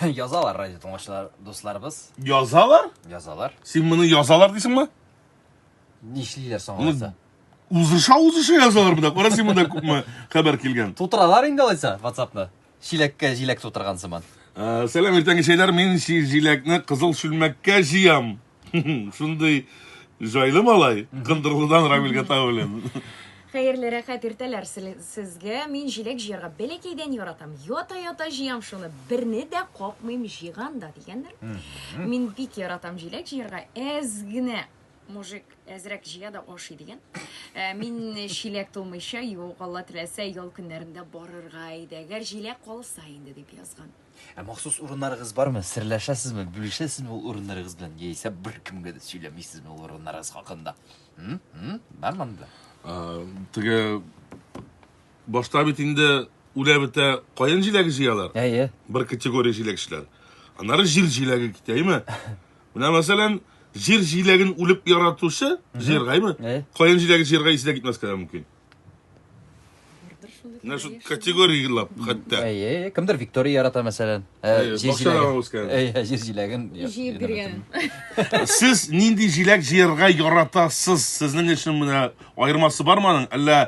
Язалар радио тыңлаучылар дусларыбыз. Язалар? Язалар. Син моны язалар дисеңме? Нишлиләр соң алайса? Узыша узыша язалар монда. Кара син монда күпме хәбәр килгән. Тутыралар инде алайса WhatsAppны. Чиләккә җиләк тутырган сыман. Ә, Сәлам, иртәнге чәйләр. Мин җиләкне кызыл чүлмәккә җыям. Шундый җайлы малай, Кындырлыдан Рамил Гата белән. Хәерле рәхәт иртәләр сезгә. Мин җиләк җыярга бәләкәйдән яратам. Ята-ята җыям шуны. Берне дә капмыйм җыйган да дигәннәр. Мин бик яратам җиләк җыярга. Әз генә мужик әзрәк җыя да ашый дигән. Ә, мин чиләк тулмыйча, юк, Алла теләсә, ял көннәрендә барырга иде. Әгәр җиләк калса инде дип язган. Ә махсус урыннарыгыз бармы? Серләшәсезме? Бүлешәсезме ул урыннарыгыз белән? Яисә беркемгә дә сөйләмисезме ул урыннарыгыз хакында? М? М? Бармы монда? Ә, Теге башта бит инде үлә бетә каен җиләге җыялар. Әйе. Бер категория җиләкчеләр. Аннары җир җиләге китә, әйме? Менә мәсәлән, җир җиләген үлеп яратучы җыярга, әйме? Әйе. Каен җиләге җыярга исе дә китмәскә дә мөмкин. Менә шул категорияләп хәтта. Әйе, кемдер Виктория ярата мәсәлән. Ә, Әйе, җир бакчадан җиләген- үскән. Әйе, җир җиләген. Җыеп биргән. Сез нинди җиләк җыярга яратасыз? Сезнең өчен менә аермасы бармы аның? Әллә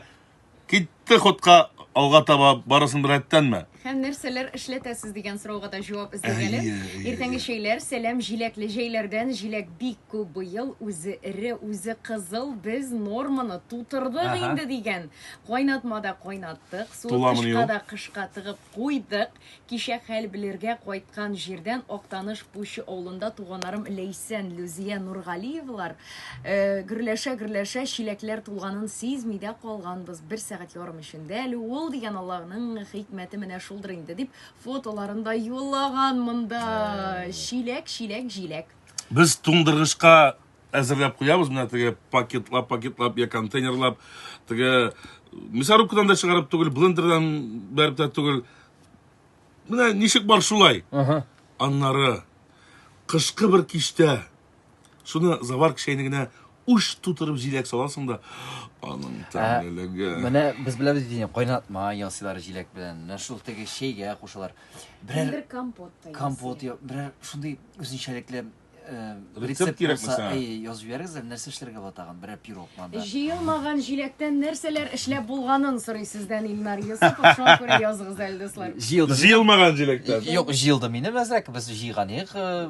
китте ходка алга таба барысын беррәттәнме? Һәм нәрсәләр эшләтәсез дигән сорауга да җавап эзлик әле. Әйе, әйе, Иртәнге әйе. чәйләр, сәлам җиләкле җәйләрдән. Җиләк бик күп быел, үзе эре, үзе кызыл. Без норманы тутырдык Ага. инде дигән. Кайнатмада кайнаттык, суы Туламыни кышка ул? да кышка тыгып куйдык. Кичә хәл белергә кайткан җирдән Актаныш Пучы авылында туганнарым Ләйсән, Люзия Нургалиевалар Э, гөрләшә-гөрләшә чиләкләр тулганын сизми дә калганбыз. Бер сәгать ярым эчендә әле ул дигән Аллаһның хикмәте менә шулдыр инде дип фотоларын да юллаган монда. Чиләк, чиләк, җиләк. Без туңдыргычка әзерләп куябыз, менә теге пакетлап, пакетлап я контейнерлап, теге мясорубкадан да чыгарып түгел, блендердан бәреп тә түгел. Менә ничек бар шулай. Ага. Аннары кышкы бер киштә Шуны заварка чәйнегенә уш тутырып җиләк саласың да, аның ә, тәмлелеге. Менә без беләбез бит инде, кайнатма ясыйлар җиләк белән. Менә шул теге чәйгә кушалар. Берәр Бер компот та компот, ясый. берәр шундый үзенчәлекле э, рецепт кирәк булса, мисаң? әй, язып җибәрегез әле, нәрсә эшләргә була тагын? Берәр пирог монда. Җыелмаган җиләктән нәрсәләр эшләп булганын сорый сездән Илнар Йосыпов. Шуңа күрә языгыз әле, дуслар. Җыелды. Җыелмаган җиләктән. Юк, җыелды минем әзрәк. Без җыйган идек. Э,